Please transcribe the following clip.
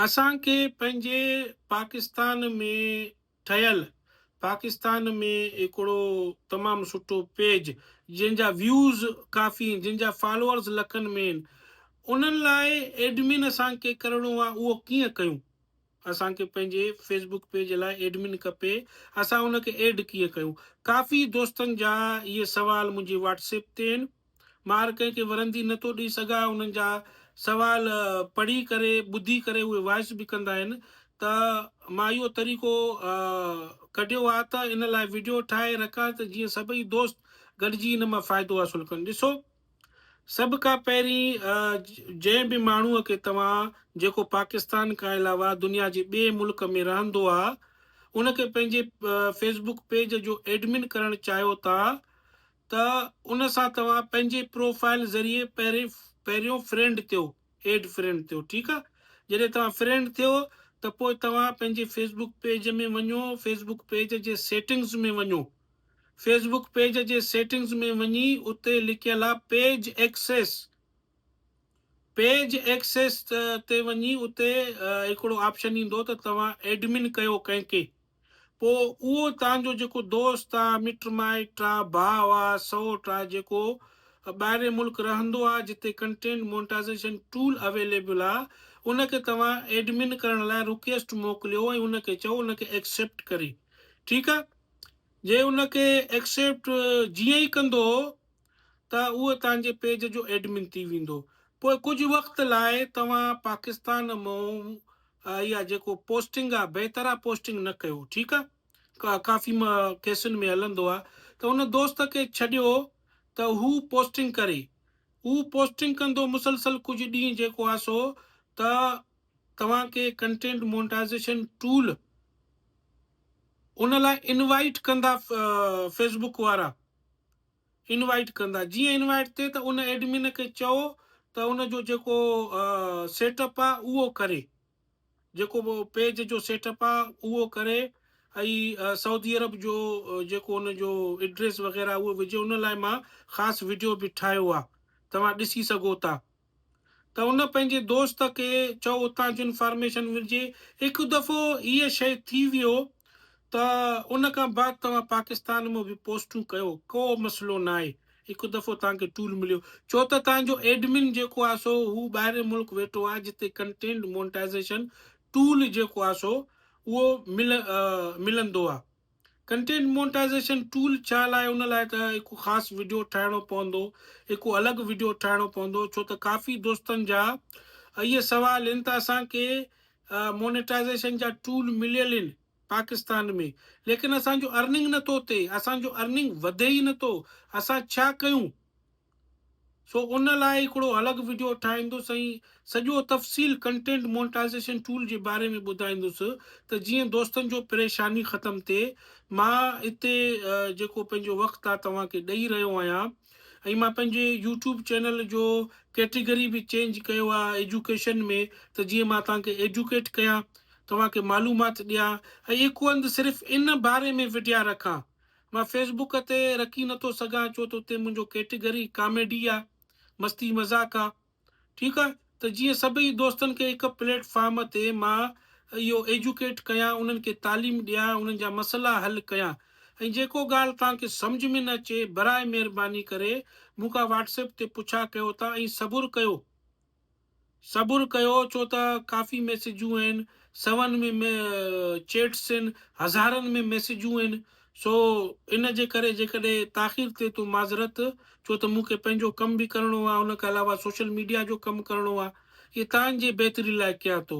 اسان کي پنهنجي پاڪستان ۾ ٺهيل پاڪستان ۾ هڪڙو تمام سٺو پيج جنهن جا ويوز ڪافي ان جن جا فالوورز لکن ۾ ان انهن لاء ايڊمن اسان کي ڪرڻو آهي اهو ڪيئن ڪيون. اسان کي پنهنجي فيس بڪ پيج لاء ايڊمن کپي اسان ان کي ايڊ ڪيئن ڪيون ڪافي دوستن جا اهي سوال منهنجي واٽس ايپ تي آهن مان هر ڪنهن کي ورندي نه ٿو ڏئي سگهان انهن جا سوال پڙهي ڪري ٻڌي ڪري اهي وائس به ڪندا آهن ته مان اهو طريقو ڪڍيو آ ته ان لاء وڊيو ٺاهي رکان ته جيئن سڀئي دوست گڏجي ان مان فائدو حاصل ڪن ڏسو سڀ کان پهرين جنهن به ماڻهوء کي توهان جيڪو پاڪستان کان علاوه دنيا جي ٻئي ملڪ ۾ رهندو آ ان کي پنهنجي فيس بڪ پيج جو ايڊمن ڪرڻ چاهيو ٿا ته ان سان توهان پنهنجي پروفائل ذريعي پهرين پهريون فرينڊ ٿيو ايڊ فرينڊ ٿيو ٺيڪ آ جڏهن توهان فرينڊ ٿيو ته پوء توهان پنهنجي فيس بڪ پيج ۾ وڃو فيس بڪ پيج جي سيٽنگز ۾ وڃو فيس بڪ پيج جي سيٽنگز ۾ وڃي اتي لکيل آ پيج ايڪسيس پيج ايڪسيس تي وڃي اتي هڪڙو آپشن ايندو ته توهان ايڊمن ڪيو ڪنهن کي پو اهو تان جو جيڪو دوست آ مٽ مائٽ آ ڀاء آ سئوٽ آ جيڪو ٻاهرين ملڪ رهندو آ جتي ڪنٽينٽ مونٽائزيشن ٽول اويليبل آ ان کي توهان ايڊمن ڪرڻ لاء رڪيسٽ موڪليو ۽ ان کي چئو ان کي ايڪسيپٽ ڪري ٺيڪ آ. جي ان کي ايڪسيپٽ جيئن ئي ڪندو ته اهو توهان جي پيج جو ايڊمن ٿي ويندو پوء ڪجهه وقت لاء توهان پاڪستان مئون اها جيڪو پوسٽنگ آ بي طرح پوسٽنگ نه ڪيو ٺيڪ آ ڪافي ڪيسن ۾ هلندو آ ته ان دوست کي ڇڏيو ته هو پوسٽنگ ڪري هو پوسٽنگ ڪندو مسلسل ڪجهه ڏينهن جيڪو آ سو ته توهان کي ڪنٽينٽ مونٽائزيشن ٽول ان لاء انوائيٽ ڪندا فيس بوڪ وارا انوائيٽ ڪندا جيئن انوائيٽ ٿئي ته ان ايڊمن کي چئو ته ان جو جيڪو سيٽ اپ آ اهو ڪري جيڪو پيج جو سيٽ اپ آ اهو ڪري ۽ سعودي عرب جو جيڪو ان جو ايڊريس وغيره اهو وجهي ان لاء مان خاص ويڊيو به ٺاهيو آ توهان ڏسي سگهو ٿا ته ان پنهنجي دوست کي چئو اتان جون انفارميشن ملجي. هڪ دفعو هيء شيء ٿي ويو ته ان کان بعد توهان پاڪستان ۾ به پوسٽون ڪيو ڪو مسئلو ناهي. هڪ دفعو توهان کي ٽول مليو. ڇو ته توهان جو ايڊمن جيڪو آهي سو هو ٻاهرين ملڪ ويٺو آهي جتي ڪنٽينٽ مونٽائيزيشن ٽول جيڪو آهي سو اهو ملندو آهي. ڪنٽينٽ مونٽائزيشن ٽول ڇا لاء ان لاء ته هڪ خاص وڊيو ٺاهڻو پوندو هڪ الڳ وڊيو ٺاهڻو پوندو ڇو ته ڪافي دوستن جا اهي سوال ان ته اسان کي مونيٽائزيشن جا ٽول مليل ان پاڪستان ۾ ليڪن اسان جو ارننگ نٿو ٿئي اسان جو ارننگ وڌي ئي نٿو اسان ڇا ڪيون سو ان لاء هڪڙو الڳ وڊيو ٺاهيندس ۽ سڄو تفصيل ڪنٽينٽ مونٽائزيشن ٽول جي باري ۾ ٻڌائيندس ته جيئن دوستن جو پريشاني ختم ٿئي مان هتي جيڪو پنهنجو وقت آ توهان کي ڏئي رهيو آهيان ۽ مان پنهنجي يوٽيوب چينل جو ڪيٽيگري به چينج ڪيو آ ايجوڪيشن ۾ ته جيئن مان توهان کي ايڊوڪيٽ ڪيان توهان کي معلومات ڏيان ۽ هڪ هنڌ صرف ان باري ۾ وڊيا رکان مان فيس بوڪ تي رکي نه ٿو سگهان ڇو ته اتي منهنجو ڪيٽيگري ڪاميڊي آ مستي مذاق آ ٺيڪ آ ته جيئن سڀئي دوستن کي هڪ پليٽ فارم تي مان اهو ايجوڪيٽ ڪيان انهن کي تعليم ڏيان انهن جا مسئلا حل ڪيان ۽ جيڪو ڳالهه توهان کي سمجهه ۾ نه اچي براء مهرباني ڪري مون کان واٽس ايپ تي پڇا ڪيو ٿا ۽ صبر ڪيو صبر ڪيو ڇو ته ڪافي ميسيجون آهن سون ۾ چيٽس آهن هزارن ۾ ميسيجون آهن سو ان جي ڪري جيڪڏهن تاخير ٿئي تو معذرت ڇو ته مون کي پنهنجو ڪم به ڪرڻو آهي ان کان علاوه سوشل ميڊيا جو ڪم ڪرڻو آهي اهي تان جي بهتري لاء ڪيان ٿو.